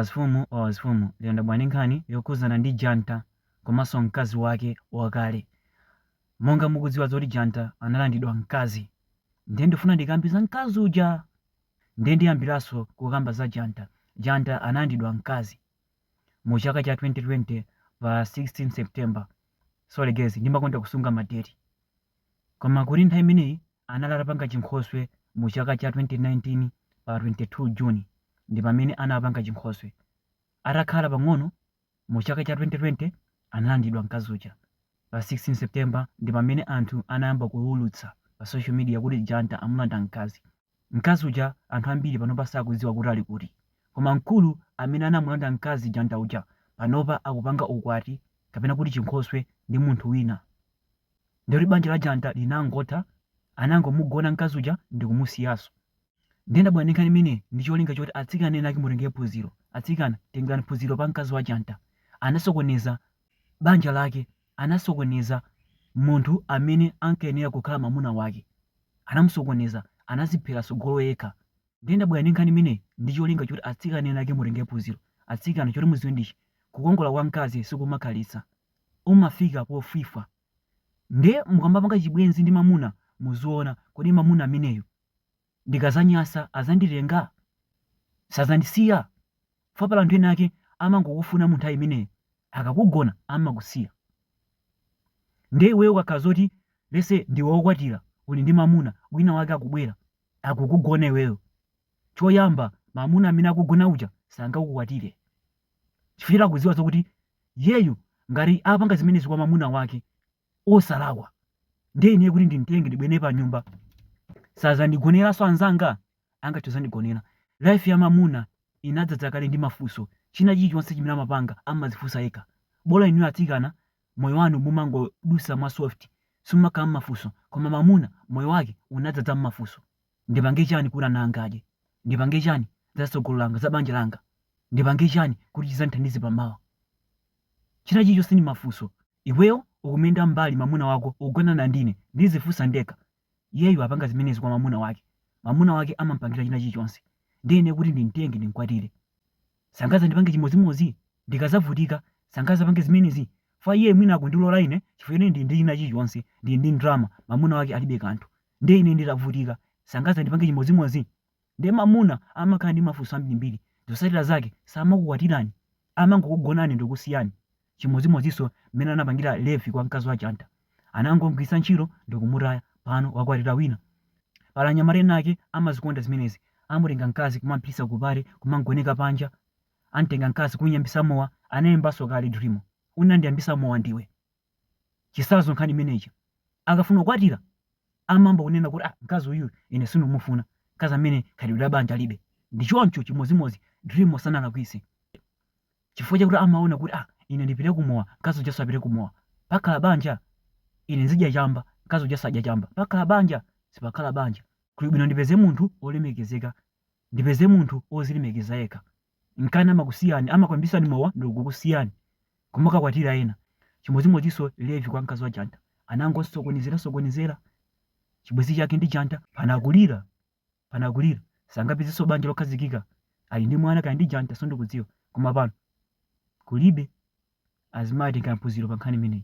Wazifumu wa wazifumu lero ndabwera ndi nkhani yokhudzana ndi Janta komanso mkazi wake wakale. Monga mukudziwa zoti Janta analandidwa mkazi. Ndiye ndifuna ndikambe za mkazi uja! Ndiye ndiyambiranso kukamba za Janta. Janta analandidwa mkazi mu chaka cha 2020 pa 16 September. Sorry guys, ndimakonda kusunga ma date. Koma kuti nthawi imeneyi anali atapanga chinkhoswe mu chaka cha 2019 pa 22 June ndi pamene anapanga chinkhoswe. Atakhala pang'ono mu chaka cha 2020 analandidwa mkazi uja. Pa 16 September ndi pamene anthu anayamba kuwulutsa pa social media kuti Janta amulanda mkazi. Mkazi uja anthu ambiri panopa sakudziwa kuti ali kuti. Koma mkulu amene anamulanda mkazi Janta uja panopa akupanga ukwati kapena kuti chinkhoswe ndi munthu wina. ndiye kuti banja la Janta linangotha, anangomugona mkazi uja ndikumusiyanso. Ndiye ndabwera ndi nkhani imeneyi ndi cholinga choti atsikana ena ake mutengere phunziro. Atsikana, tengerani phunziro pa mkazi wa Janta. Anasokoneza banja lake, anasokoneza munthu amene ankayenera kukhala mwamuna wake. Anamusokoneza, anadziphera tsogolo yekha. Ndiye ndabwera ndi nkhani imeneyi ndi cholinga choti atsikana ena ake mutengere phunziro. Atsikana, choti mudziwe ndi ichi, kukongola kwa mkazi sikumakhalitsa. umafika pofwifwa nde mukamapanga chibwenzi ndi mamuna muziona kodi mamuna ameneyu ndikazanyasa azanditenga? sazandisiya? chifukwa pali anthu ena ake amangokufuna mu nthawi imeneyo akakugona amakusiya nde iweyo ukakhala zoti let's say ndiwe wokwatira uli ndi mamuna wina wake akubwera akukugona iweyo choyamba mamuna amene akugona uja sangakukwatire chifukwa choti akuziwa zokuti Iyeyu ngati apanga zimenezi kwa mamuna wake osalakwa, ndiye ineyo kuti ndimtenge ndibwere naye panyumba sadzandigoneranso anzanga? Angathe kudzandigonera? Life ya mamuna inadzadza kale ndi mafunso, china chilichonse chimene amapanga amadzifunsa yekha. Bola inuyo atsikana moyo wanu mumangodutsa mwa soft simumakhala mmafunso koma mamuna moyo wake unadzadza mmafunso. Ndipange chani kuti ana anga adye? Ndipange chani za tsogolo langa, za banja langa? Ndipange chani kuti chizandithandize pa mawa? China chilichonse ndi mafunso. Iweyo ukumuyenda mmbali mamuna wako ukugonana ndi ine ndizifunsa ndekha. Iyeyu apanga zimenezi kwa mamuna wake. Mamuna wake amampangira china chilichonse. Ndiye ine kuti ndimtenge ndimkwatire. Sangazandipange chimodzimodzi? Ndikazavutika sangazapange zimenezi? Chifukwa iye mwina akundilola ine chifukwa ine ndili ndi china chilichonse, ndili ndi ndalama, mamuna wake alibe kanthu. Ndiye ine nditavutika, sangadzandipangenso chimodzimodzi? Ndiye mamuna amakhala ndi mafunso ambirimbiri, zotsatira zake samakukwatirani, amangokugonani ndikusiyani. Chimodzimodzinso mmene anapangira Levi kwa mkazi wa Janta. Anangomgwiritsa ntchito ndikumutaya, pano wakwatira wina. Pali anyamata ena ake amazikonda zimenezi, amutenga mkazi kumampititsa ku pati kumamgoneka panja, amtenga mkazi kumuyambitsa mowa, anayimbanso kale Drimo. Unandiyambitsa mowa ndiwe. Chitsanzo nkhani imeneyi, akafuna kukwatira amayamba kunena kuti ah, mkazi uyu ine sindimufuna, mkazi ameneyu khalidwe la banja alibe. Ndi choncho chimodzimodzi Drimo sanalakwitse chifukwa chakuti amaona kuti ah, ine ndipite ku mowa, mkazi ujanso apite ku mowa. Pakhala banja? Ine ndizidya chamba, mkazi ujanso adya chamba. Pakhala banja? Sipakhala banja. Kuli bwino ndipeze munthu wolemekezeka, ndipeze munthu wodzilemekeza yekha. Nkana amakusiyani, amakwambisani mowa ndikukusiyani kumakakwatira ena. Chimodzimodzinso Levi kwa mkazi wa Janta, anangomusokonezera sokonezera chibwenzi chake ndi Janta, pano akulira pano akulira, sangapezenso banja lokhazikika, ali ndi mwana kaya ndi wa Janta sindikudziwa, koma pano kulibe. Azimayi tengani phunziro pa nkhani imeneyi.